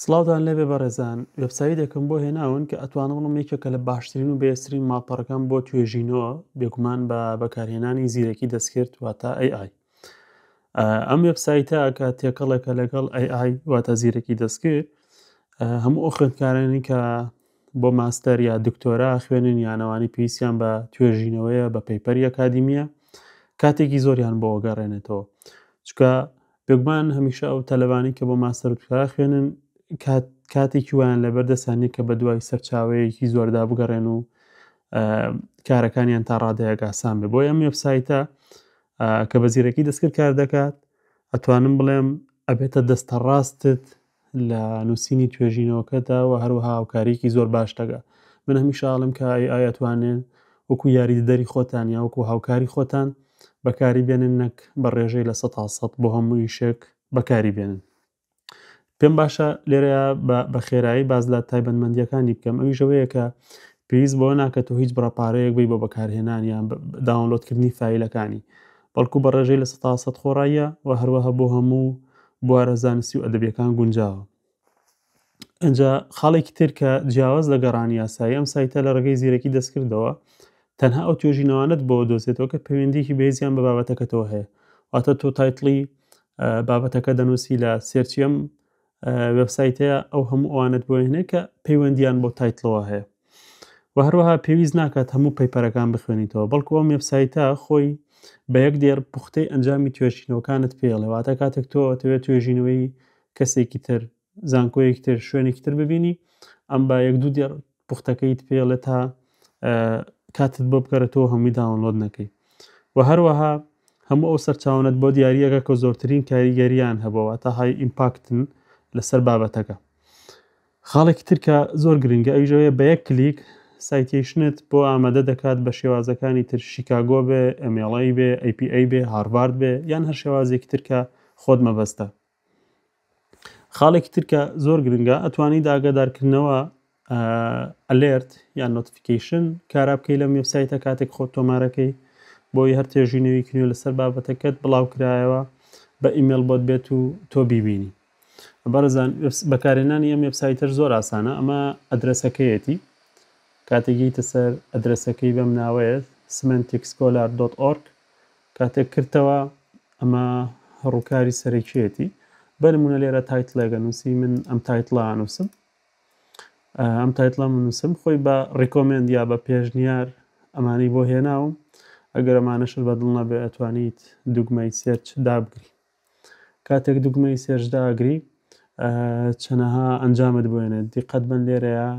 سڵاوتان لێبێ بەڕێزان وێبسایدێکم بۆ هێناون کە ئەتوانم بڵم یەکێکە لە باشترین و بێسرین ماڵپەڕەکان بۆ توێژینەوە بێگومان بە بەکارهێنانی زیرەکی دەستکرد واتە AI ئەم وێبسایتە کە تێکەڵێکە لەگەڵ AI واتە زیرەکی دەستکرد هەموو ئەو خوێندکارانی کە بۆ ماستەر یا دکتۆرا خوێنن یانەوانی پێویستیان بە توێژینەوەیە بە پەیپەری ئەکادیمیە کاتێکی زۆریان بۆ گەڕێنێتەوە چکە بێگومان هەمیشە ئەو تەلەبانەی کە بۆ ماستەر و دکتۆرا ئەخوێنن کات کاتێکی وایان لەبەر دەستیان نییە کە بەدوای سەرچاوەیەکی زۆردا بگەڕێن و کارەکانیان تا ڕادەیەک ئاسان بێ بۆ ئەم وێبسایتە کە بە زیرەکی دەستکرد کار دەکات ئەتوانم بڵێم ئەبێتە دەستە ڕاستت لە نووسینی توێژینەوەکەدا و هەروەها هاوکاریکی زۆر باش دەگا من هەمیشە ئاڵم کە ئەی ئایەتوانێن وەکو یاریدەدەری خۆتان یا وەکو هاوکاری خۆتان بەکاری بێنن نەک بە ڕێژەی لە سە تا سەد بۆ هەموو ئیشێک بەکاری بێنن پێم باشە لێرە بە خێرایی باز لە تایبەتمەندیەکانی بکەم ئەوی ژەوەیە کە پێویست بۆ ناکە تۆ هیچ بڕەپارەیەک بی بۆ بەکارهێنان یان داونلۆدکردنی فیلەکانی بەڵکو بە ڕێژەی لە سە تا سەد خۆڕاییە و هەروەها بۆ هەموو بوارە زانستی و ئەدەبیەکان گونجاوە. ئەجا خاڵێکی تر کە جیاواز لە گەڕانی یاسایی ئەم سایتە لە ڕێگەی زیرەکی دەستکردەوە تەنها ئەو توێژینەوانت بۆ دۆزێتەوە کە پەیوەندیکی بێزیان بە بابەتەکەتەوە هەیە واتە تۆ تایتڵی بابەتەکە دەنووسی لە سێرچیم وبسایتەیە ئەو هەموو ئەوانت بۆێنێ کە پەیوەندیان بۆ تایتڵەوە هەیە و هەروەها پێویست ناکات هەموو پەیپەرەکان بخوێنیتەوە بەڵکو ئەم وێبسایتە خۆی بە یەک دێر پوختەی ئەنجامی توێشینەوەکانت پێڵێ واتە کاتێک تۆ تەوێت توێژینەوەی کەسێکی تر زانکۆیەکی تر شوێنێکی تر ببینی ئەم بە یەک دوو دێر پوختەکەیت پێڵێ تا کاتت بۆ بکەرێتەوە هەمووی داونلۆد نەکەی و هەروەها هەموو ئەو سەرچاونت بۆ دیارریەکە کە زۆرترین کاریگەریان هەبەوە تا های ئیمپاکتن لەسەر بابەتەکە خاڵێکی تر کە زۆر گرنگە ئەویش ئەوەیە بە یەک کلیک سایتیشنت بۆ ئامادە دەکات بە شێوازەکانی تر شیکاگۆ بێ، MLA بێ، APA بێ، هارڤارد بێ یان هەر شێوازێکی تر کە خۆت مەبەستە. خاڵێکی تر کە زۆر گرنگە ئەتوانی داگادارکردنەوە ئەلێرت یان نۆتفیکیشن کارا بکەی لەم وێبسایتە کاتێک خۆت تۆمارەکەی بۆی هەر تێژینەوەیکی نوێ لەسەر بابەتەکەت بڵاو کرایەوە بە ئیمێل بۆت بێت و تۆ بیبینی. بەڕێزان بەکارهێنانی ئەم وێبسایتەر زۆر ئاسانە ئەمە ئەدرەسەکەیەتی کاتێک یتە سەر ئەدرەسەکەی بەم ناوەیە سمنتیکسکۆلار.org کاتێک کردەوە ئەمە ڕووکاری سەرەکیەتی بەرمونە لێرە تایتلێگە نووسی من ئەم تایتلا نووسم ئەم تایتلا من نووسم خۆی بە ڕیکۆمنند یا بە پێشنیار ئەمانی بۆ هێناوم ئەگەر ئەمانەشر بە دڵ نەبێ ئەتوانیت دوگمەی سێرچ دابگری کاتێک دوگمەی سێرچ داگری چەنەها ئەنجامت بۆێنێت دیقەت بن لێرەیە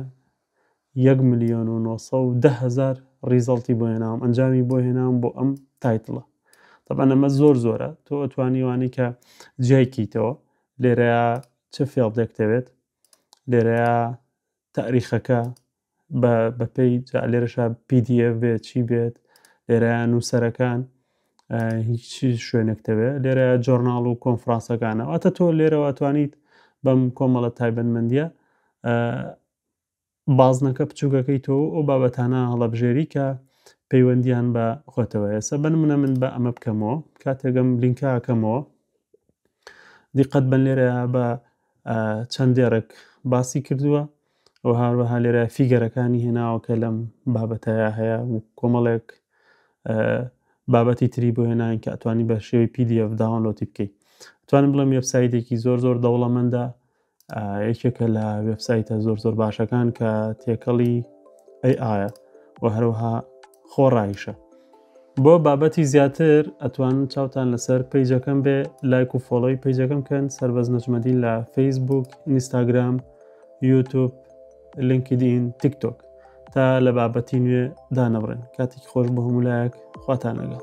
یەک ملیۆن و نۆ سەد و دە هەزار ڕیزەڵتی بۆ هێناوم ئەنجامی بۆ هێناوم بۆ ئەم تایتڵە طبعا ئەمە زۆر زۆرە تۆ ئەتوانیوانی کە جیایکەیتەوە لێرەیە چ فێڵدێک دەوێت لێرەیە تاریخەکە بە بەپێی جا لێرەشا پدیف بێت چی بێت لێرە نووسەرەکان هیچ شوێنێکتەوێ لێرە جۆرناڵ و کۆنفرانسەکانە ئەتە تۆ لێرەوە توانیت بەم کۆمەڵە تایبەتمەندیە بازنەکە بچووکەکەی تۆ ئەو بابەتانە هەڵەبژێری کە پەیوەندیان بە خۆتەوە ئێستا بن منە من بە ئەمە بکەمەوە کاتێکم لینکەکەمەوە دیقەت بن لێرە بە چەند دێڕێک باسی کردووە و هاروەها لێرە فیگەرەکانی هێناوە کە لەم بابەتەیە هەیە و کۆمەڵێک بابەتی تری بۆ هێناین کە ئەتوانی بە شێوەی PDF داونلۆتی بکەیت توانم بڵێم وێبسایتێکی زۆر زۆر دەوڵەمەندە یەکێکە لە وێبسایتە زۆر زۆر باشەکان کە تێکەڵی ئەی ئاە و هەروها خۆ ڕایشە بۆ بابەتی زیاتر ئەتوان چاوتان لەسەر پیجەکەم بێ لایک و فۆڵۆی پیجەکەم کەن سربەز نەجمەدین لە فەیسبوک ئینستاگرام یوتوب لینکدین تیکتۆک تا لە بابەتی نوێ دانەبڕێن کاتێک خۆش بە هەموو لایەک خواتان لەگەڵ